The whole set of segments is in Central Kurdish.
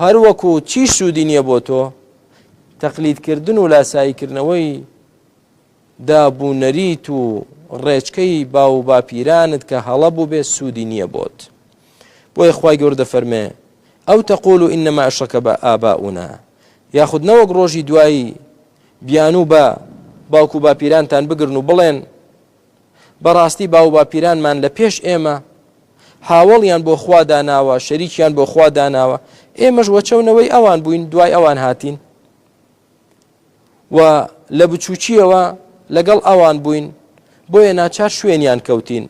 هەر وەکو چیش سوودی نییە بۆ تۆ، تەقلیدکردن و لاساییکردنەوەی داب و نەریت و ڕێچکەی باو و باپیرانت کە هەڵە بووبێ سوودی نییە بۆت. بۆیە خوای گەورە دەفەرمێ، ئەو تەقولو ئینەما ئەشڕەکە ئاباونا، یاخود نەوەک ڕۆژی دوایی بیانوو بە باوک و باپیرانتان بگرن و بڵێن، بەڕاستی باو و باپیرانمان لە پێش ئێمە هاوەڵیان بۆ خوا داناوە شەریکیان بۆ خوا داناوە ئێمەش وەچەو نەوەی ئەوان بووین دوای ئەوان هاتین و لە بچووکیەوە لەگەڵ ئەوان بووین بۆیە ناچار شوێنیان کەوتین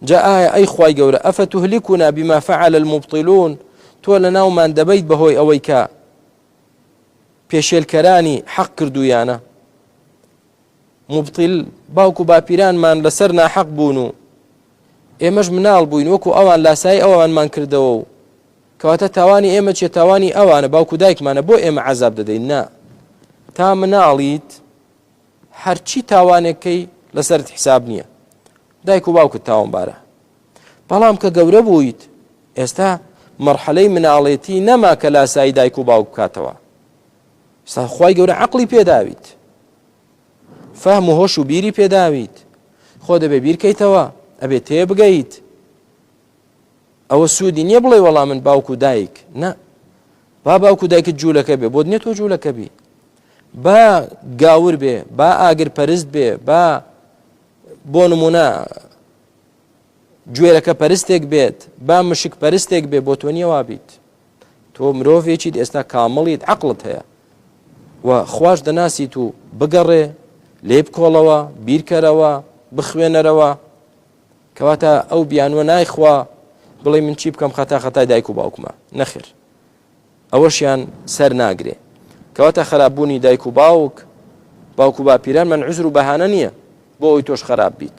جا ئایا ئەی خی گەورە ئەفە تهلیکونا بما فعل المبطلون تۆ لە ناومان دەبیت بەهۆی ئەوەی کە پێشێلکەرانی حەق کردویانە موبتیل، باوک و باپیرانمان لەسەر ناحەق بوون و ئێمەش مناڵ بووین وەکو ئەوان لاسایی ئەوانمان کردەوە و کەواتە تاوانی ئێمە چیە تاوانی ئەوانە باوک و دایکمانە بۆ ئێمە عەزاب دەدەین نا تا مناڵیت هەرچی تاوانێکەی لەسەرت حساب نییە دایک و باوکت تاوانبارە بەڵام کە گەورە بوویت ئێستا مەرحەلەی مناڵێتی نەما کە لاسایی دایک و باوک بکاتەوە سا خوای گەورە عەقڵی پێداویت فەهم و هۆش و بیری پێداویت خۆ دەبێ بیرکەیتەوە ئەبێ تێ بگەیت ئەوە سوودی نییە بڵێ وەڵام من باوکو دایک نە با باوکو دایکت جوولەکە بێ بۆت نیە تۆ جوولەکە بی با گاور بێ با ئاگر پەرست بێ با بۆ نمونە گوێرەکە پەرستێک بێت با مشک پەرستێک بێ بۆ تۆ نیەوا بیت تۆ مرۆڤێکیت ئێستا کامڵیت عقلت هەیە و خوش دەناسیت و بگەڕێ لێ بکۆڵەوە بیرکەرەوە بخوێنەرەوە کەواتە ئەو بیانوە نایخوا بڵێ من چی بکەم خەتا خەتای دایک و باوکمە نەخر ئەوەشیان سەر ناگرێ کەواتە خراپبوونی دایک و باوک باوکو باپیران من عزر و بەهانە نییە بۆ ئەوی تۆش خراپ بیت